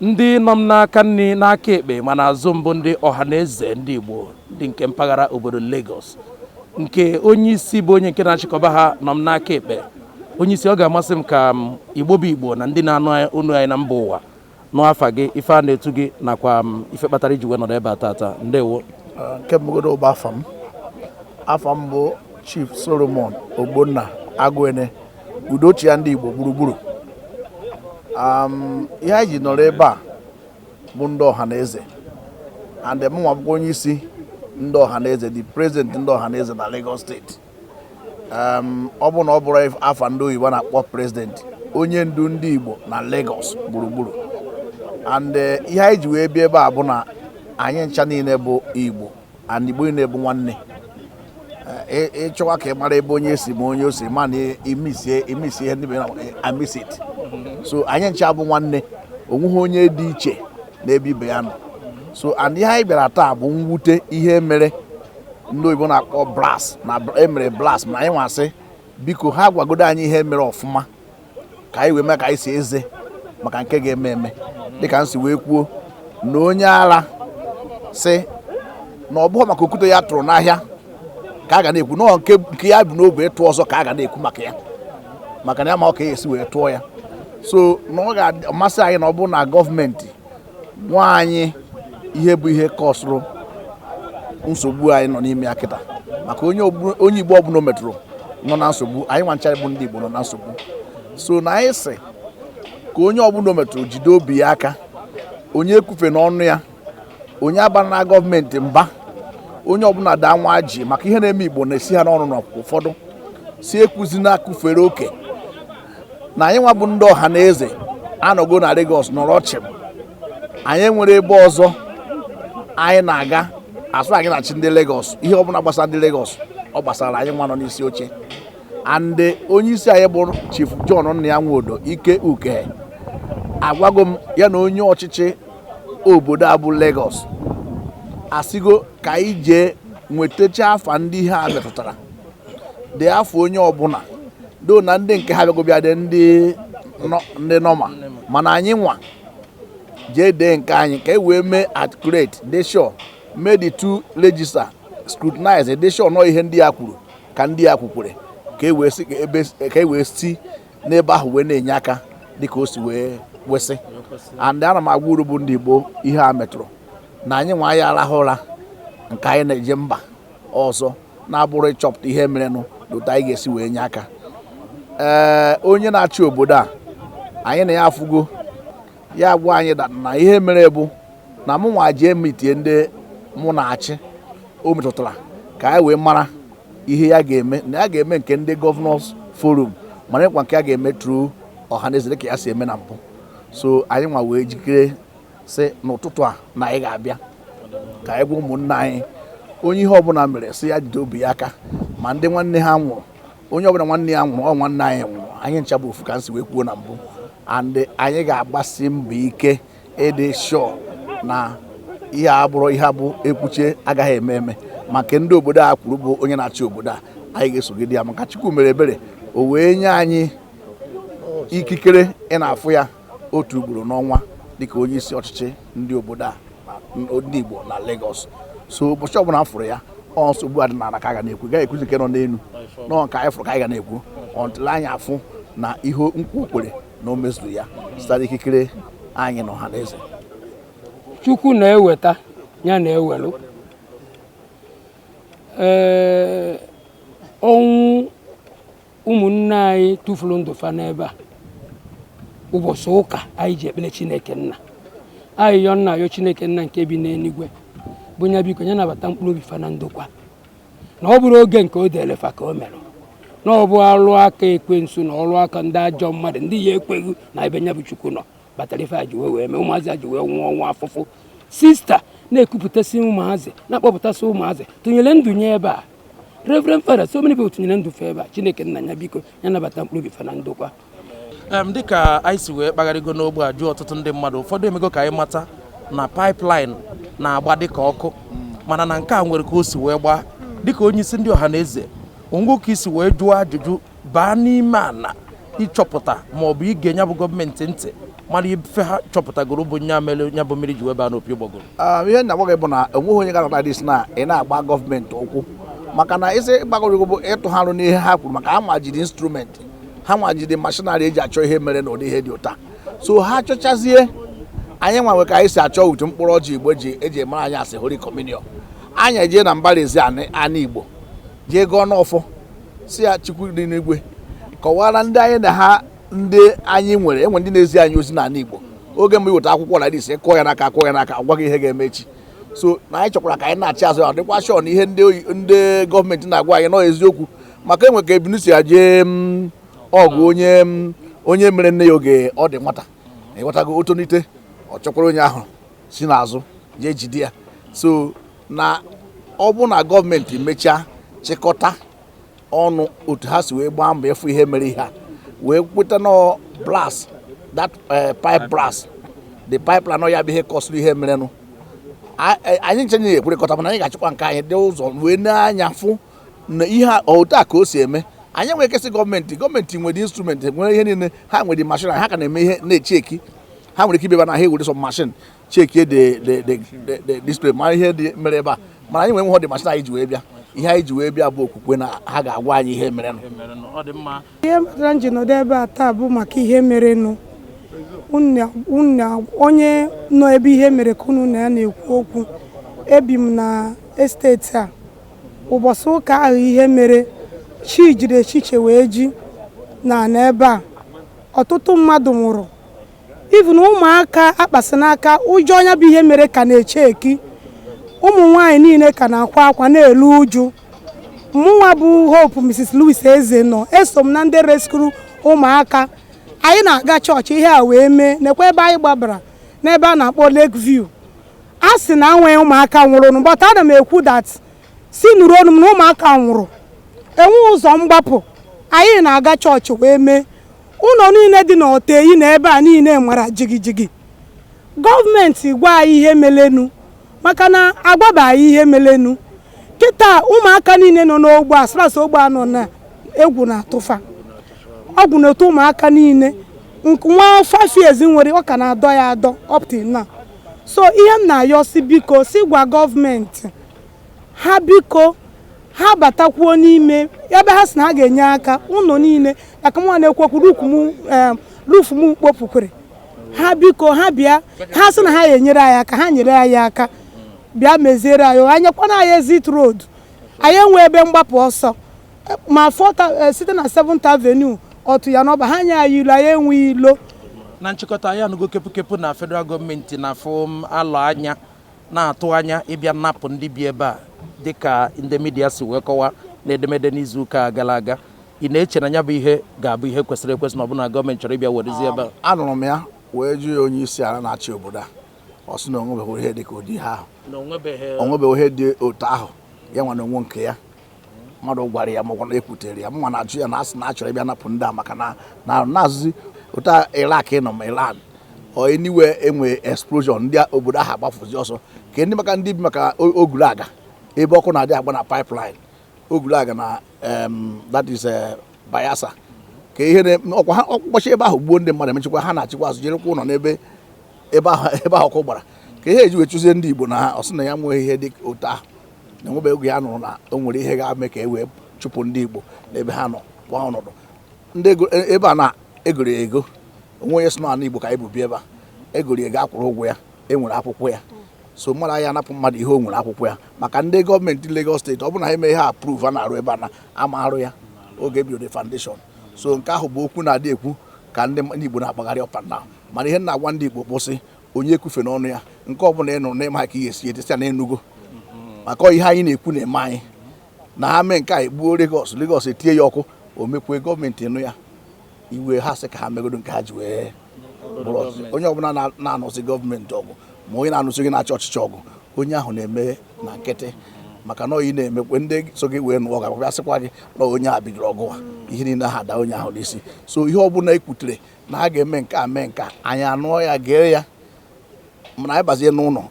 Ndị nọ m n'aka nri n'aka ekpe ma n'azụ m bụ ndị Ohanaeze ndị Igbo ndị nke mpaghara obodo Lagos nke onye isi bụ onye nke na-achịkọba ha nọ m n'aka ekpe onye isi ọ ga-amasị m ka Igbo bụ Igbo na ndị na-anụ onu anyị na mba ụwa nụ afa gị ife a na-etu gị nakwa ife kpatara i ji wee nọrọ ebe a tata ndewo nke mbụ godo bụ afa m afa m bụ Chief Solomon Ogbonna Aguene Udochia ndị Igbo gburugburu um, ihe anyị ji nọrọ ebe a bụ ndị Ohanaeze and mụnwa bụkwa onye isi ndị Ohanaeze the president ndị Ohanaeze na Lagos State um, ọ bụ na ọ bụrụ afa ndị oyibo na-akpọ president onye ndu ndị Igbo na Lagos gburugburu and eh, ihe anyị ji wee bịa ebe a bụ na anyị ncha niile bụ Igbo and Igbo niile bụ nwanne ị chọwa ka ị mara ebe onye si ma onye o si ma na imisie imisie ihe ndị mere amis it so anyị ncha bụ nwanne onweghị onye dị iche n'ebe ibe ya nọ so and ihe anyị bịara taa bụ mwute ihe mere ndị oyibo na-akpọ blast na e mere blast ma anyị nwa sị biko ha gwagodo anyị ihe mere ọfụma ka anyị wee ma ka anyị si eze maka nke ga-eme eme dịka m si wee kwuo na onye ara sị na ọ bụghị maka okwute ya tụrụ n'ahịa ka a ga na-ekwu na ọ nke ya bu n'obi ịtụ ọzọ ka a ga na-ekwu maka ya maka na ya amahọ ka ya esi wee tụọ ya so na ọ ga-amasị anyị na ọ bụrụ na gọọmenti gwa anyị ihe bụ ihe kọsụrụ nsogbu anyị nọ n'ime ya kịta maka onye Igbo ọbụla o metụrụ nọ na nsogbu anyị nwancha bụ ndị Igbo nọ na nsogbu so na anyị sị ka onye ọbụla o metụrụ jide obi ya aka onye ekwufena ọnụ ya onye abarana gọọmenti mba onye ọbụla daa nwa jii maka ihe na-eme Igbo na-esi ha n'ọnụ na ụfọdụ si ekwuzi na akụfere oke na anyị nwa bụ ndị Ohanaeze anọgo na Lagos nọrọ chịm anyị nwere ebe ọzọ anyị na-aga asụ anyị na-achị ndị Lagos ihe ọbụla gbasara ndị Lagos ọ gbasara anyị nwa nọ n'isi oche and onye isi anyị bụ Chief John Nnia Nwodo Ike Ukehe agwago m ya na onye ọchịchị obodo a bụ Lagos asịgo ka anyị jee nwetacha afa ndị ihe a metụtara dee afa onye ọbụla down na ndị nke ha bịago bịa dee ndị nọma mana anyị nwa jee dee nke anyị ka e wee mee accurate dị sure mee the two register scrutinize dị sure na ihe ndị ya kwuru ka ndị ya kwukwere ka e wee si n'ebe ahụ wee na-enye aka dịka o si wee kwesị and ana m agwa unu bụ ndị Igbo ihe a metụrụ na anyị nwa anyị arahụ ụra nke anyị na-eje mba ọzọ na-abụrụ ịchọpụta ihe merenụ na otu anyị ga-esi wee nye aka ee onye na-achị obodo a anyị na ya afụgo ya gwa anyị na ihe mere bụ na mụ nwa jee mitie ndị mụ na-achị o metụtara ka anyị wee mara ihe ya ga-eme na ya ga-eme nke ndị Governors forum mana ịkwa nke ya ga-eme through Ọhanaeze dịka ya si eme na mbụ so anyị nwa wee jikere sị n'ụtụtụ a na anyị ga-abịa ka anyị gwa ụmụnna anyị onye ihe ọbụla mere sị ya jide obi ya aka ma ndị nwanne ha nwụrụ onye ọbụla nwanne ya nwụrụ ọ nwanne anyị nwụrụ anyị ncha bụ ofu ka m si wee kwuo na mbụ and anyị ga-agbasi mbọ ike ịdị sure na ihe a abụrọ ihe bụ e kwuchaa agaghị eme eme maka ndị obodo a kwuru bụ onye na-achị obodo a anyị ga-esogide ya maka Chukwu mere ebere o wee nye anyị ikikere ịna-afụ ya otu ugboro n'ọnwa dịka onye isi ọchịchị ndị obodo a ndị Igbo na Lagos so ụbọchị ọbụla m fụrụ ya ọ nsogbu a dị n'ala ka a ga na-ekwu gaghị ekwuzi nke nọ n'elu na ọ nke anyị fụrụ ka anyị ga na-ekwu until anyị afụ na ihe nkwa o kwere na o mezuru ya site ikikere anyị na Ọhanaeze chukwu na-eweta ya na-ewelu ee ọnwụ ụmụnne anyị tụfuru ndụ fa n'ebe a ụbọchị ụka anyị ji ekpere chineke nna anyị yọ na-ayọ chineke nna nke bi n'eluigwe bụ nya biko nya nabata mkpụrụ obi fa na ndokwa na ọ bụrọ oge nke o dere fa ka o mere na ọ bụ ọrụ aka ekwensu na ọrụ aka ndị ajọ mmadụ ndị ya ekweghị na ebe nya bụ chukwu nọ kpatara ife a ji wee wee mee ụmụazị a ji wee nwụọ ọnwụ afụfụ Sister na-ekupụtasị ụmụazị na-akpọpụtasị ụmụazị tụnyere ndụ nya ebe a Reverend Father so many people tụnyere ndụ fa ebe a chineke nna ya biko ya nabata mkpụrụ obi fa na ndokwa em dịka anyị si wee kpagharịgo n'ogbe a jụọ ọtụtụ ndị mmadụ ụfọdụ emego ka anyị mata na pipeline na-agba dịka ọkụ mana na nke a nwere ka o si wee gbaa dịka onye isi ndị Ọhanaeze o nwe ka i si wee jụọ ajụjụ baa n'ime ala ịchọpụta ma ọ bụ ige nya bụ gọọmenti ntị mara ife ha chọpụtagoro bụ nya mere nya bụ mmiri ji wee baa n'opi ụgbọgụrụ Ah, ihe m na-agwa gị bụ na enweghị onye gara na dis na ị na-agba gọọmenti ụkwụ maka na isi gbagoro bụ ịtụgharị n'ihe ha kwuru maka ha nwa jiri instrument ha nwa jiri machinery e ji achọ ihe mere na ụdị ihe dị otu a so ha chọchazie anyị nwa nwe ka anyị si achọ otu mkpụrụ ọjị igbo ji eji emere anyị a sị Holy Communion anyị ejee na mbara ezi anị anị igbo jee gọọ n'ọfọ sị ya chukwu dị n'igwe kọwara ndị anyị na ha ndị anyị nwere enwe ndị na-ezi anyị ozi n'ala igbo oge mgbe i weta akwụkwọ na ise kụọ ya n'aka kụọ ya n'aka gwa gị ihe ga-eme echi so na anyị chọkwara ka anyị na-achị azụ ya dịkwa sure na ihe ndị gọọmenti na-agwa anyị na ọ eziokwu maka e nwe ka ebunu si ya jee mm, ọgụ onye mm, onye mere nne ya oge ọ dị nwata ị ghọtago o tonite ọ chọkwara onye ahụ si n'azụ jee jide ya so na ọ bụ na gọọmenti mechaa chịkọta ọnụ otu ha si wee gbaa mbọ ịfụ ihe mere ihe a wee kweta na blast that eh, pipe blast the pipeline ya bụ ihe kọsịrị ihe merenụ eh, anyị ncha ya ekwerekọta mana anyị ga-achịkwa nke anyị dị ụzọ wee na-anya fụ na ihe otu a ka o si eme anyị nwere ike sị gọọmenti gọọmenti nwere instrumenti nwere ihe niile ha nwere mashin ha ka na-eme ihe na-echeki ha nwere ike ibeba na ha ewere sọ mashin chekie the the the the- the display mara ihe mere ebe a mana anyị nwa ọ dịghị mashin anyị ji wee bịa ihe anyị ji wee bịa bụ okwukwe na ha ga-agwa anyị ihe merenụ ihe metara anyị ji nọdụ ebe a taa bụ maka ihe merenụ Unu- unu- onye nọ ebe ihe mere ka unu na ya na-ekwu okwu ebi m na esteti a ụbọchị ụka ahụ ihe mere chi jiri ehihie wee ji na n'ebe a ọtụtụ mmadụ nwụrụ even ụmụaka a kpasị n'aka ụjọ nya bụ ihe mere ka na-esheki ụmụ nwaanyị niile ka na-akwa akwa na-elu uju mụnwa bụ Hope Mrs. Louis Eze nọ eso m na ndị reskuru ụmụaka anyị na-aga chọọchị ihe a wee mee nekwa ebe anyị gbabara n'ebe a na-akpọ Lake View a sị na enweghị ụmụaka nwụrụnụ but ana m ekwu that. sị nụrụ ọnụ m na ụmụaka nwụrụ enwe ụzọ mgbapụ anyị na-aga chọọchị wee mee ụnọ niile dị n'Oteyi na ebe a niile mara jigijigi gọọmenti gwa anyị ihe melenụ maka na agwaba anyị ihe melenụ kịta ụmụaka niile nọ n'ogbe a sras ogbe a nọ na egwu na-atụ fa egwu na-atụ ụmụaka niile nwa five years m nwere ọ ka na-adọ ya adọ up till now so ihe m na-ayọ sị biko sị gwa gọọmenti ha biko ha batakwuo n'ime ebe ha sị na ha ga-enye aka ụnọ niile maka mụnwa na-ekwu okwu eh, rufu m kpopụkwara ha biko ha bịa ha sị na ha ya enyere anyị aka ha nyere anyị aka bịa meziere anyị ha nyekwana anyị exit road anyị enwe ebe mgbapụ ọsọ ma fọta eh, site na seventh avenue ọtụ ya n'ọba ha nye anyị ilo anyị enwe ilo na nchịkọta anyị anụgo kepụkepụ na federal gọọmenti na fa na-alọ anya na-atụ anya ịbịa napụ ndị bi ebe a dịka ndị midia si wee kọwa n'edemede n'izuụka gara aga ị na-eche na ya bụ ihe ga-abụ ihe kwesịrị ekwesị na ọ bụ na gọọmenti chọrọ ịbịa werezi ebe a um, anụrụ m ya wee jụọ onye isi ala na-achị obodo a ọ sị na o nwebeghị ihe dị ka ụdị ihe ahụ o nwebeghị ihe dị otu ahụ ya nwa na onwe nke ya mmadụ gwara ya maọbụ na ekwutere ya mma na-ajụ ya na asị na achọrọ ịbịa napụ ndị a maka na na-azụzi ụta Iraq nọ ma Iran anywhere e nwe explosion ndị obodo ahụ agbafuzi ọsọ ka ndị maka ndị bi maka Ogulagha ebe ọkụ na-adị agba na pipeline Ogulagha na that is eh, Bayelsa ka ihe ọkwa ha ọkpọchi ebe ahụ gbuo ndị mmadụ emechikwa ha nachikwa azụ je rụkwa ụlọ n'ebe ebe ahụ ọkụ gbara ka ihe eji wee chụzie ndị Igbo na ha ọ sị na enweghị ihe dị otu ahụ na enwebe oge ya nụrụ na o nwere ihe ga-eme ka e wee chụpụ ndị Igbo n'ebe ha nọ kwa ọnọdụ ndị e, ebe a na-egoro ya ego o nwe onye sị na ana Igbo ka anyị bụ bi ebe a egoro ya ego akwụrụ ụgwọ ya e nwere akwụkwọ ya so mmadụ a ya anapụ mmadụ ihe o nwere akwụkwọ ya maka ndị gọọmenti Lagos steeti ọ bụrụ na ha eme ihe approve a na-arụ ebe a na ama arụ ya oge ebido the foundation so nke ahụ bụ okwu na-adị ekwu ka ndị Igbo na-akpagharị up and down mana ihe m na-agwa ndị Igbo bụ sị onye ekwufena ọnụ ya nke ọ bụla ị nụrụ n'ịma ka ihe esi etesa na enugo maka ihe anyị na-ekwu na-eme anyị na ha mee nke a egbuo Lagos Lagos etinye ya ọkụ o mekwe gọọmenti nụ ya iwe ha sị ka ha megodo nke ha ji wee onye ọbụla na-anụsị gọọmenti ọgụ ma onye na-anụsị ndị na-achị ọchịchị ọgụ onye ahụ na-eme na nkịtị maka na ị na-emekwe ndị so gị wee nụọ ga-abịa sịkwa gị na onye a bidoro ọgụ ihe niile ha ada onye ahụ n'isi so ihe ọbụla ekwutere na a ga-eme nke a mee nke a anyị anụọ ya gee ya mana anyị bazie n'ụlọ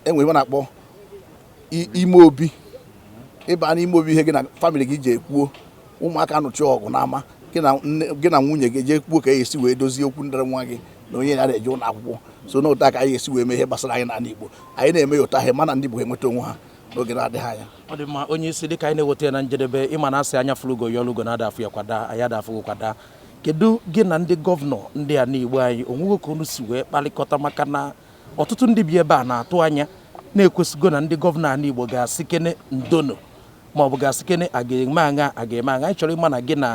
enwere ebe a na-akpọ ime obi ịba n'ime obi ihe gị na famịlị gị jee kwuo ụmụaka nụcha ọgụ n'ama gị na nwunye gị jee kwuo ka e esi wee dozie okwu dịrị nwa gị na onye ya na-eje ụlọ akwụkwọ so na otu a ka anyị esi wee mee ihe gbasara anyị n'ala Igbo anyị na-eme ya otu a a ya-ama na ndị Igbo enweta onwe ha n'oge na-adịghị anya ọ dị mma onye isi dịka anyị na-eweta ya na njedebe ịma na asị anya fụlụ ugo ya olugo na ada afụ ya kwa daa anyị ada afụ ugo kwa daa kedu gị na ndị gọvanọ ndị anị Igbo anyị o nwego ka unu si wee kpalịkọta maka na ọtụtụ ndị bi ebe a na-atụ anya na ekwesịgo na ndị gọvanọ anị Igbo ga-asịkene ndo nụ maọbụ ga-asịkene a ga-eme aṅa a ga-eme aṅa anyị chọrọ ịma na gị na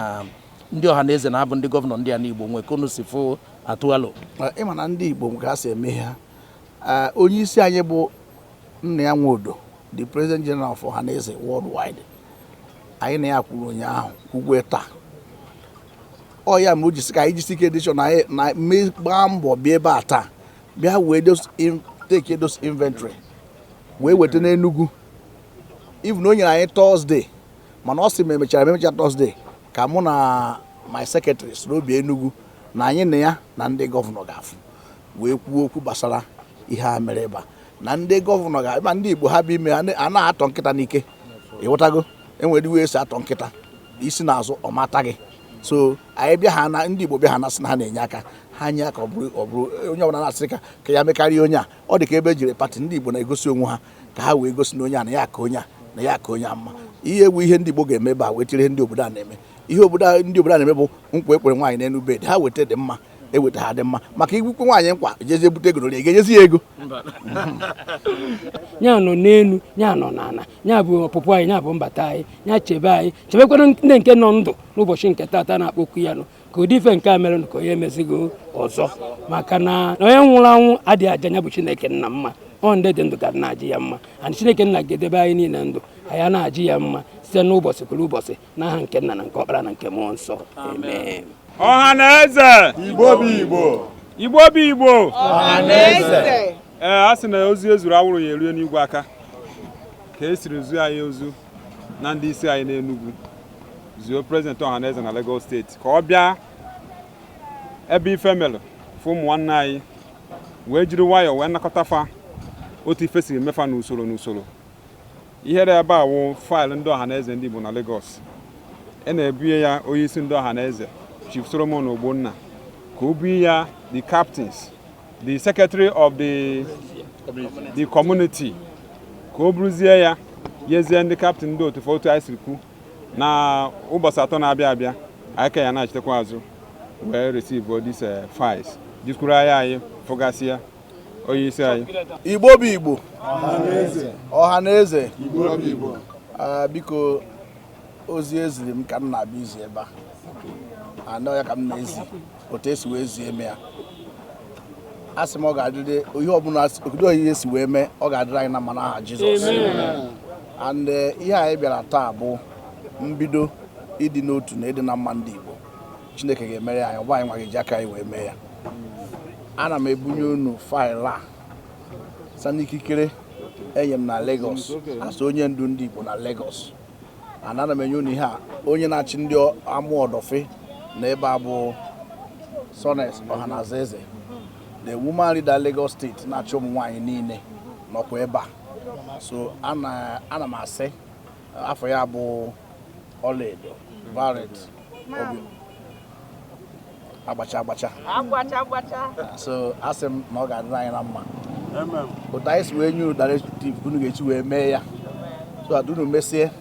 ndị Ohanaeze na-abụ ndị gọvanọ ndị anị Igbo nwee ka unu si fụ atụ alo ịma na ndị Igbo nwe ka e si eme ha onye isi anyị bụ Nnia Nwodo, the President General of Ohanaeze Worldwide, anyị na ya kwuru ụnyaahụ kwukwe taa ọ ya me o ji sị ka anyị jisi ike make sure na anyị- na mee gbaa mbọ bịa ebe a taa bịa wee those in- take those inventory wee weta n'Enugu even o nyere anyị Thursday mana ọ sị ma emechara ma emecha Thursday ka mụ na my secretary soro bịa Enugu na anyị na ya na ndị gọvanọ ga-afụ wee kwuo okwu gbasara ihe a mere ebe a na ndị gọvanọ ga ma ndị igbo ha bụ ime a na-atọ nkịta n'ike ịghọtago enwere iwe esi atọ nkịta isi n'azụ ọ mata gị so anyị bịa ha na ndị igbo bịa ha na-asị na ha na-enye aka ha nye aka ọ bụrụ ọ bụrụ onye ọbụla na-asị ka ka ya mekarịa onye a ọ dị ka ebe ejiri pati ndị igbo na-egosi onwe ha ka ha wee gosi na onye a na ya ka onye a na ya ka onye a mma ihe egwu ihe ndị igbo ga-eme ebe a wetiri ihe ndị obodo a na-eme ihe obodo ndị obodo a na-eme bụ nkwa ekwere nwaanyị n'elu bed ha weta dị mma eweta ha dị mma maka igwukwe nwaanyị nkwa jezie bute ego na ga-enyezi ya ego ya nọ n'elu ya nọ n'ala ya bụ ọpụpụ anyị ya bụ mbata anyị ya chebe anyị chebekwara ndị nke nọ ndụ n'ụbọchị nke tata na-akpọku ya nọ ka ụdị ife nke a mere ka onye emezigo ọzọ maka na onye nwụrụ anwụ adịghị aja ya bụ chineke nna mma ọ ndị dị ndụ ga na-aja ya mma and chineke nna ga-edebe anyị niile ndụ anyị na-aja ya mma site n'ụbọchị kwuru ụbọchị n'aha nke nna na nke ọkpara na nke mmụọ nsọ amen ọha na eze igbo bụ igbo igbo bụ igbo ọha na eze ee a sị na ozu ezuru anwụrụ ya erue n'igwe aka ka e siri zuo anyị ozu na ndị isi anyị n'Enugu zuo prezidenti ọha na eze na Lagos steeti ka ọ bịa ebe ife melụ fụ ụmụ nwanne anyị wee jiri nwayọọ wee nakọta fa otu ife siri mee fa n'usoro n'usoro Ihe dị ebe a wụ faịlụ ndị ọhaneze ndị Igbo na Legọs. E na-ebunye ya onyeisi ndị ọhaneze Chief Solomon Ogbonna ka o bunye ya the captains the secretary of the the community ka o buruzie ya nyezie ndị captain ndị otu otu anyị siri kwu na ụbọchị atọ na-abịa abịa anyị ka ya na-achitekwa azụ wee receive this eh, files jikwuru anya anyị fụgasịa onye isi anyị igbo bụ igbo ọha na eze ah, biko ozi eziri m ka m na-abịa izi ebe a and ọ ya ka m na-ezi otu esi wee zie eme ya a sị m ọ ga-adịrị ihe ọbụla obodo ihe si wee mee ọ ga-adịrị anyị na mma n'aha Jizọs and eh, ihe anyị bịara taa bụ mbido ịdị n'otu na ịdị na mma ndị Igbo Chineke ga-emere ya anyị ọ bụ anyị nwa ga-eji aka anyị wee mee ya ana m ebunye unu faịlụ a sa n'ikikere enye m na Lagos as onye ndu ndị Igbo na Lagos and ana m enye unu ihe a onye na-achị ndị Amuwo Odofin na ebe a bụ Sones Ohanaeze the woman leader Lagos steeti na-achị ụmụ nwaanyị niile nọkwa ebe a so ana m asị afa ya bụ ọlaedo Violet obi agbacha agbacha agbacha agbacha so asị m na ọ ga-adịrị anyị na mma otu anyị si wee nye unu directive unu ga-esi wee mee ya so that unu mesie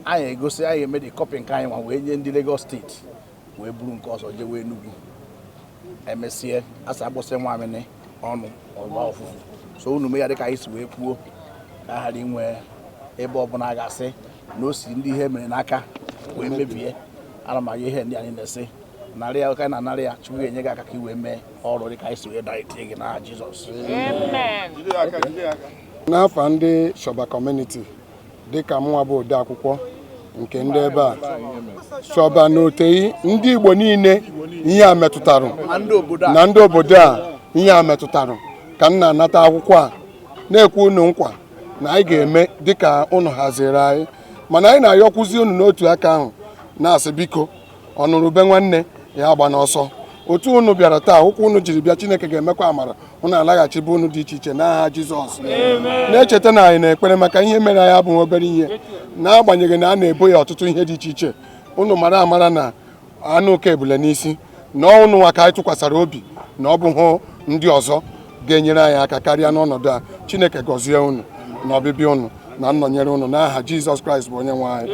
anyị egosi anyị eme the copy nke anyị nwa wee nye ndị Lagos steeti wee buru nke ọzọ jewe Enugu emesie asa agbụsị nwamịnị ọnụ ọgba ọfụfụ so unu mee ya dịka anyị si wee kwuo ka a ghara inwe ebe ọbụla a ga-asị na o si ndị ihe mere n'aka wee mebie ana m aga ihe ndị anyị na-esi narị ya ụka na narị ya chukwu ga-enye gị aka ka i wee mee ọrụ dị ka anyị si wee daa itinye gị n'aha Jizọs Amen. n'afa ndị shọba community dịka mụnwa bụ odeakwụkwọ nke ndị ebe a Sọba na Oteyi ndị Igbo niile ihe a metụtara na ndị obodo a ihe a metụtara ka m na-anata akwụkwọ a na-ekwe unu nkwa na anyị ga-eme dịka unu haziri anyị mana anyị na-ayọkwụzi unu n'otu aka ahụ na-asị biko ọ nụrụ ube nwanne ya agbana ọsọ otu unu bịara taa ụkwụ unu jiri bịa chineke ga-emekwa amara unu alaghachi be unu dị iche iche n'aha jizọs na-echeta na anyị na-ekpere maka ihe mere anyị abụghị obere ihe n'agbanyeghị na a na-ebo ya ọtụtụ ihe dị iche iche unu mara amara na anụ oke ebule n'isi na ọ unu nwa ka anyị tụkwasara obi na ọ bụghị ndị ọzọ ga-enyere anyị aka karịa n'ọnọdụ a chineke gọzie unu na ọbịbịa unu na nnọnyere unu n'aha jizọs kraịst bụ onye nwe anyị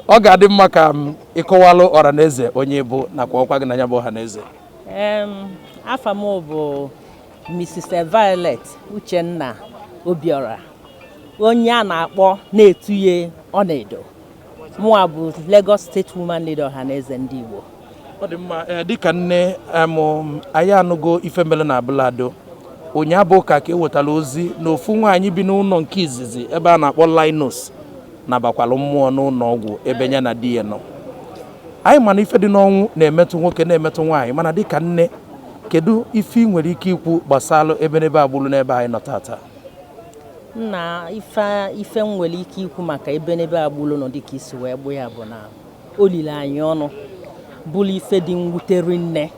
ọ ga-adị mma ka ị kọwalụ ọra na eze onye ị bụ nakwa ọkwa gị na ya bụ Ọhanaeze afa m bụ Mrs. Violet Uchenna Obiora onye a na-akpọ na-etu ye Ọnaedo mụwa bụ Lagos State Woman Leader Ọhanaeze ndị Igbo ọ dị mma eh, dịka nne anyị anụgo ife mere na Abule Ado ụnyaahụ bụ ụka ka e wetara ozi na ofu nwaanyị bi n'ụnọ nke izizi ebe a na-akpọ Linus nabakwalụ mmụọ n'ụnọ ọgwụ ebe ya na di ya nọ anyị ma na ife dị n'ọnwụ na-emetụ nwoke na-emetụ nwaanyị mana dịka nne kedu ife ị nwere ike ikwu gbasara ebenebe a gbulu n'ebe anyị nọ tata nna ife m nwere ike ikwu maka ebenebe a gbulu nụ dịka i si wee kwu ya bụ na o lili anyị ọnụ bụrụ ife dị mwute rinne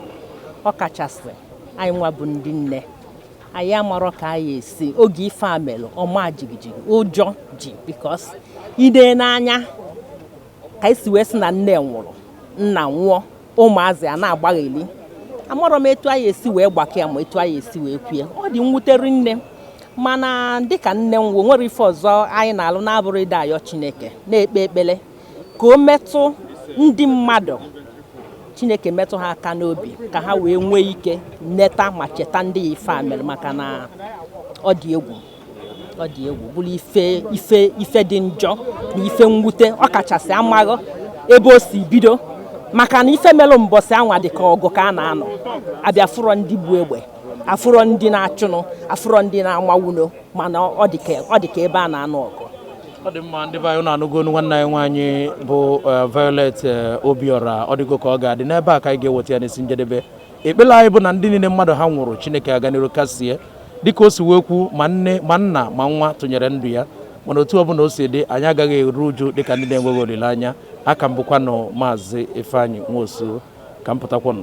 ọ kachasị anyị nwa bụ ndị nne anyị amarọ ka anyị esi oge ife a mere ọma jigijigi ụjọ ji because i nee anya ka e si wee sị na nne nwụrụ nna nwụọ ụmụazị a na-agbagheli amarọ m etu anyị esi wee gbakọ ya ma etu anyị esi wee kwue ọ dị mwute rinne mana dịka nne m bụ o nwerọ ife ọzọ anyị na-alụ na-abụrọ ịdị ayọ chineke na-ekpe ekpere ka o metụ ndị mmadụ chineke metụ ha aka n'obi ka ha wee nwee ike neta ma cheta ndị a ife a mere maka na ọ dị egwu ọ dị egwu bụrụ ife ife ife dị njọ na ife mwute ọ kachasị amaghị ebe o si bido maka na ife mere mbọsị anwa dị ka ọgụ ka a na-anụ a bịa afụrọ ndị bu egbe afụrọ ndị na-achụnụ afụrọ ndị na-amawa ụnọ mana ọ dị ka ọ dị ka ebe a na-anụ ọgụ ọ dị mma ndị be anyị na-anụgo onu nwanne anyị nwaanyị bụ eh, Violet eh, Obiora ọ dịgo ka ọ ga-adị n'ebe a ka anyị ga-eweta ya n'isi njedebe ekpere anyị bụ na ndị niile mmadụ ha nwụrụ Chineke aga n'iru kasie dịka o si wee kwu ma nne ma nna ma nwa tụnyere ndụ ya mana otu ọbụla o si dị anyị agaghị eru uju dịka ndị na-enweghị olileanya a ka m bụkwanụ maazị Ifeanyi Nwosu ka m pụtakwanụ